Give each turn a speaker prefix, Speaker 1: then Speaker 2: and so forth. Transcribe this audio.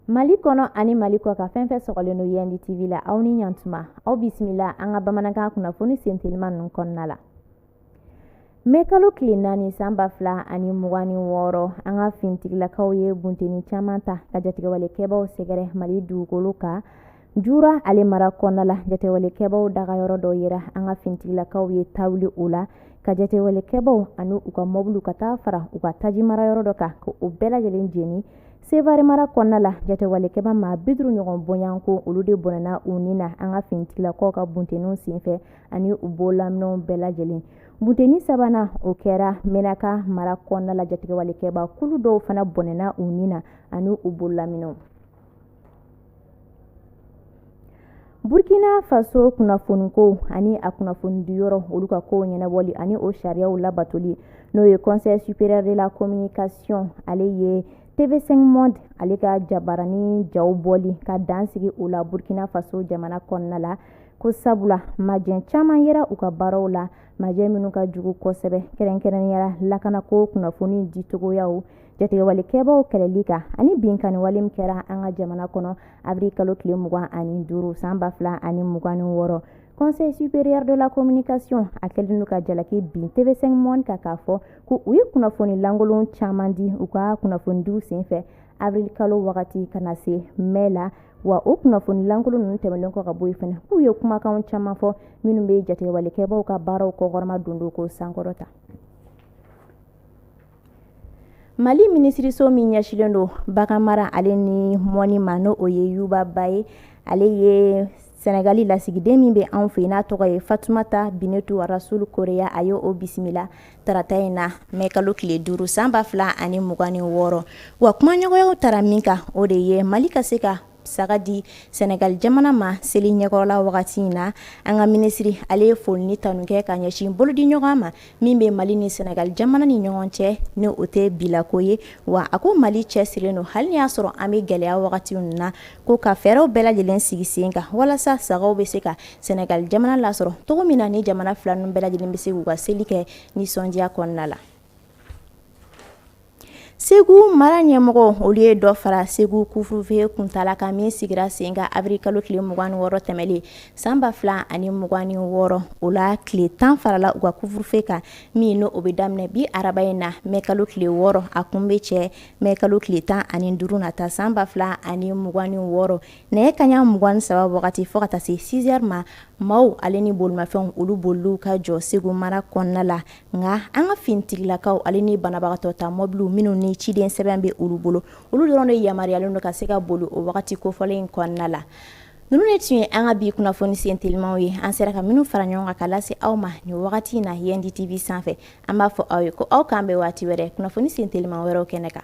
Speaker 1: mali kɔnɔ ani mali kɔkan fɛn fɛn sɔgɔlen don yɛndi tv la aw ni ɲantuma aw bisimila an ka bamanankan kunnafoni senteliman ninnu kɔnɔna la Mɛ kalo tile naani san ba fila ani mugan ni wɔɔrɔ an ka fintigilakaw ye bunteni caman ta ka jatigɛwalekɛbaw sɛgɛrɛ mali dugukolo kan jura ale mara kɔnɔna la jatigɛwalekɛbaw dagayɔrɔ dɔ yera an ka fintigilakaw ye tawuli o la ka jatigɛwalekɛbaw ani u ka mɔbiliw ka taa fara u ka taji marayɔrɔ dɔ kan ka o bɛɛ lajɛlen jeni sevari mara kɔnɔna la jatigɛwalekɛba maa biduru ɲɔgɔn bɔɲɔgɔnko olu de bɔnɛna u ni na an ka fintigilakaw ka bunteninw senfɛ ani u bololaminɛnw bɛɛ lajɛlen Bunteni sabanan o kɛra menaka mara kɔnɔna la jatigɛwalekɛba kulu dɔw fana bɔnɛna u ni na ani u bololaminɛnw burukina faso kunnafoniko ani a kunnafoni di yɔrɔ olu ka kow ɲɛnabɔli ani o sariyaw labatoli n'o ye conseil supérieur de la communication ale ye tv5 monde ale ka jabarani jaw bɔli ka dansigi o la burukina faso jamana kɔnɔna la ko sabula majɛ caman yera u ka baaraw la majɛ minnu ka jugu kosɛbɛ kɛrɛnkɛrɛnnenya la lakanako kunnafoni dicogoyaw jatigɛwalekɛbaw kɛlɛli kan ani binkanniwale min kɛra an ka jamana kɔnɔ avril kalo tile mugan ani duuru san ba fila ani mugan ni wɔɔrɔ conseil supérieur de la communication a kɛlen don ka jalaki bin tv5 monde kan k'a fɔ ko u ye kunnafoni lankolon caman di u ka kunnafonidiw senfɛ avril kalo wagati ka na se mɛ la wa o kunnafoni lankolon ninnu tɛmɛlen kɔ ka bɔ yen fana k'u ye kumakan caman fɔ minnu bɛ jatigɛwalekɛbaw ka baaraw kɔkɔrɔmadondon k'o sankɔrɔta mali minisiriso min ɲɛsilen don baganmara ale ni mɔnni ma n'o ye yuba ba ye ale ye sɛnɛgali lasigiden min bɛ anw fɛ n'a tɔgɔ ye fatumata binetu arasulu koreya a ye o bisimila tarata in na mɛ kalo tile duuru sanba fila ani mugan ni wɔɔrɔ wa kumaɲɔgɔnyaw taara min kan o de ye mali ka se ka saga di sɛnɛgali jamana ma seli ɲɛkɔrɔla wagati in na an ka minisiri ale ye foli ni tanu kɛ ka ɲɛsin bolodiɲɔgɔnma min bɛ mali ni sɛnɛgali jamana ni ɲɔgɔn cɛ ni o tɛ bilako ye wa a ko mali cɛsirilen don hali n'i y'a sɔrɔ an bɛ gɛlɛya wagati min na ko ka fɛɛrɛw bɛɛ lajɛlen sigi sen kan walasa sagaw bɛ se ka Sɛnɛgali jamana lasɔrɔ cogo min na ni jamana fila ninnu bɛɛ lajɛlen bɛ se k'u ka seli kɛ nisɔndiya kɔnɔna la segu mara ɲɛmɔgɔ olu ye dɔ fara segu couvre-feu kuntaala kan min sigira sen kan avril kalo tile mugan ni wɔɔrɔ tɛmɛnlen sanba fila ani mugan ni wɔɔrɔ o la tile tan farala u ka couvre-feu kan min n'o bɛ daminɛ bi araba in na mɛ kalo tile wɔɔrɔ a kun bɛ cɛ mɛ kalo tile tan ani duuru nata sanba fila ani mugan ni wɔɔrɔ Nɛgɛ kaɲa mugan ni saba wagati fo ka taa se six heures ma maaw ale ni bolimafɛnw olu boli ka jɔ segu mara kɔnɔna la nka an ka finitigilakaw ale ni banabagatɔta mɔbiliw minnu ni ciden sɛbɛn bɛ olu bolo olu dɔrɔn de yamaruyalen don ka se ka boli o wagati kofɔlen in kɔnɔna la ninnu de tun ye an ka bi kunnafoni sen telimaw ye an sera ka minnu fara ɲɔgɔn kan ka lase aw ma nin wagati in na Yendi TV sanfɛ an b'a fɔ aw ye ko aw k'an bɛn waati wɛrɛ kunnafoni sen teliman wɛrɛ kɛnɛ kan